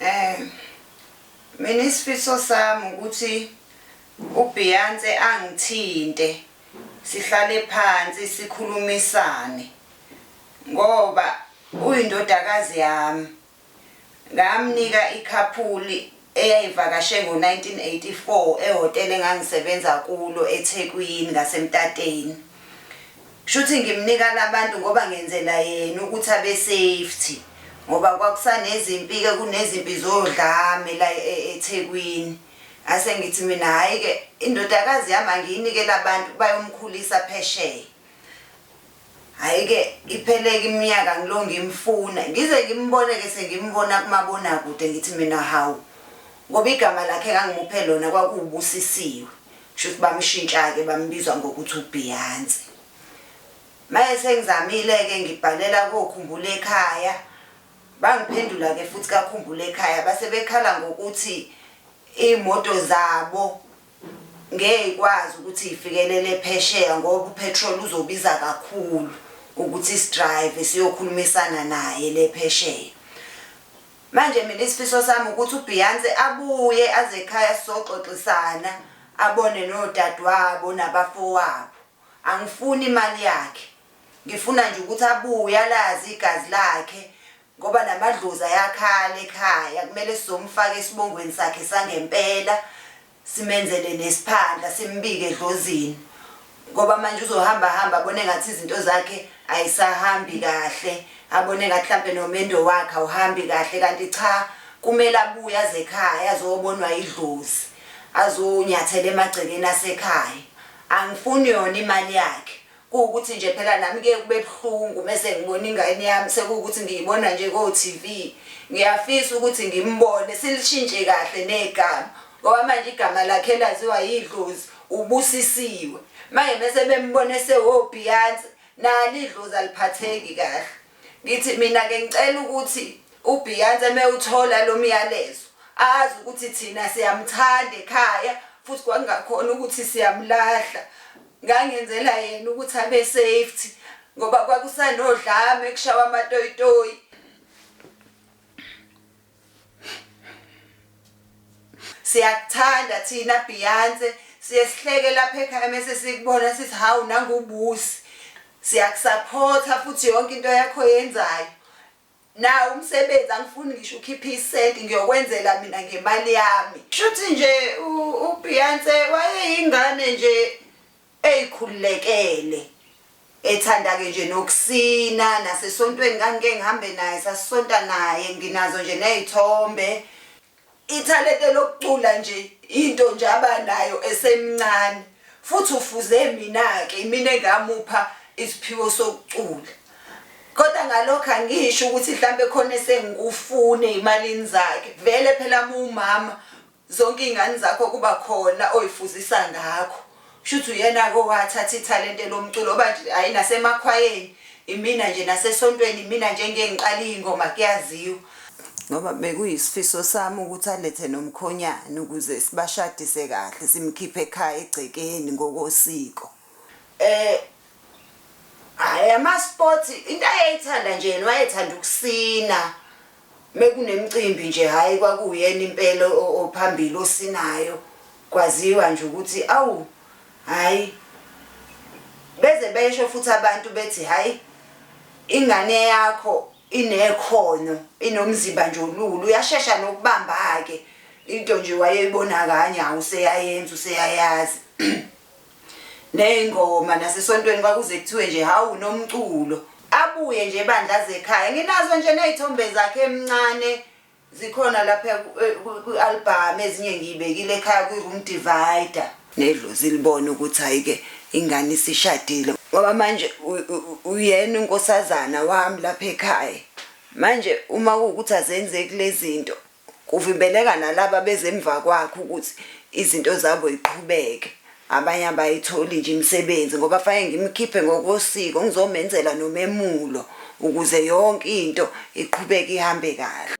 Eh mina isifiso sami ukuthi uBeyonce angithinte sihlale phansi sikhulumisane ngoba uyindodakazi yami ngamnika ikhaphuli eyayivakashe ngo-1984 ehhotela engangisebenza kulo eThekwini ngaseMtateni. Shuthi ngimnika labantu ngoba ngenzela yena ukuthi abe safety ngoba kwakusanezimpi ke kunezimpi zodlame la e, eThekwini. Ase ngithi mina hayi ke indodakazi yami angiyinike labantu bayomkhulisa phesheya. Hhayi ke ipheleke iminyaka ngilo ngimfuna ngize ngimbone ke sengimbona kumabonakude ngithi mina hawu ngoba igama lakhe engangimuphe lona kwakuwubusisiwe kushuthi bamshintsha ke bambizwa ngokuthi uBeyonce maye sengizamile ke ngibhalela kokhumbula ekhaya bangiphendula ke futhi kakhumbula ekhaya base bekhala ngokuthi imoto zabo ngeke ikwazi ukuthi ifikelele phesheya ngoba upetrol uzobiza kakhulu ukuthi sidrive siyokhulumisana naye le phesheya manje mina isifiso sami ukuthi uBeyonce abuye aze ekhaya sizoxoxisana abone nodadewabo nabafowabo angifuni imali yakhe ngifuna nje ukuthi abuye alazi igazi lakhe ngoba namadlozi ayakhala ekhaya kumele sizomfaka esibongweni sakhe sangempela simenzele nesphandla simbike edlozini ngoba manje uzohamba hamba abone ngathi izinto zakhe ayisahambi kahle abone ngathi mhlampe nomendo wakhe awuhambi kahle kanti cha kumele abuye azekhaya azobonwa idlozi azonyathela emagcekeni asekhaya angifuni yona imali yakhe Kuwukuthi nje phela nami kuye kube buhlungu mese ngibona ingane yami sekuwukuthi ngiyibona nje ko TV. Ngiyafisa ukuthi ngimbone silishintshe kahle negama ngoba manje igama lakhe laziwa yidlozi ubusisiwe. Manje mese bembona esewo Beyonce nalo idlozi aliphatheki kahle. Ngithi mina ke ngicela ukuthi uBeyonce mewuthola lo myalezo azi ukuthi thina siyamthanda ekhaya futhi kwakungakhona ukuthi siyamlahla. Ngangenzela yena ukuthi abe safety ngoba kwakusanodlame kushawa amatoyitoyi. Siyakuthanda thina Beyonce siye sihleke lapha ekhaya mese sikubona sithi hawu nangubusi siyakusaphotha futhi yonke into yakho yenzayo Nawu umsebenzi angifuni ngisho ukhiphe isenti ngiyokwenzela mina ngemali yami. Shuthi nje uBeyonce wayeyingane nje eyikhululekele. Ethanda ke nje nokusina nasesontweni ngangike ngihambe naye sasisonta naye nginazo nje nezithombe. Ithalente lokucula nje into nje abanayo esemncane futhi ufuze mina-ke imina engamupha isiphiwo sokucula. Kodwa ngalokho angisho ukuthi mhlampe khona esengikufune ezimalini zakhe. Vele phela uma uwumama zonke izingane zakho kuba khona oyifuzisa ngakho. Shuthi uyena ke owathatha ithalente lomculo oba nje hayi nasemakhwayeni imina nje nasesontweni imina nje engeke ngiqale iy'ngoma kuyaziwa. Ngoba bekuyisifiso sami ukuthi alethe nomkhonyana ukuze sibashadise kahle simkhiphe ekhaya egcekeni ngokosiko. Um hhayi ama-sport into ayeyithanda nje yena wayethanda ukusina. Mekunemcimbi nje hhayi kwakuwuyena impela ophambili osinayo kwaziwa nje ukuthi awu hhayi beze besho futhi abantu bethi hhayi ingane yakho inekhono inomzimba nje olulu uyashesha nokubamba-ke into nje wayeyibona kanye hawu useyayenza useyayazi Neyingoma nasesontweni kwakuze kuthiwe nje hawu nomculo. Abuye nje bandla azekhaya. Nginazo nje nezithombe zakhe emncane zikhona lapha kwi-album ezinye ngiyibekile ekhaya kwi-room divider. Nedlozi libona ukuthi hayike ingane isishadile ngoba manje uyena unkosazana wami lapha ekhaya. Manje uma kuwukuthi azenzeki lezinto Kuvimbeleka nalaba beze emva kwakhe ukuthi izinto zabo yiqhubeke. Abanye abayitholi nje imisebenzi ngoba fanele ngimkhiphe ngokosiko ngizomenzela nomemulo ukuze yonke into iqhubeke ihambe kahle.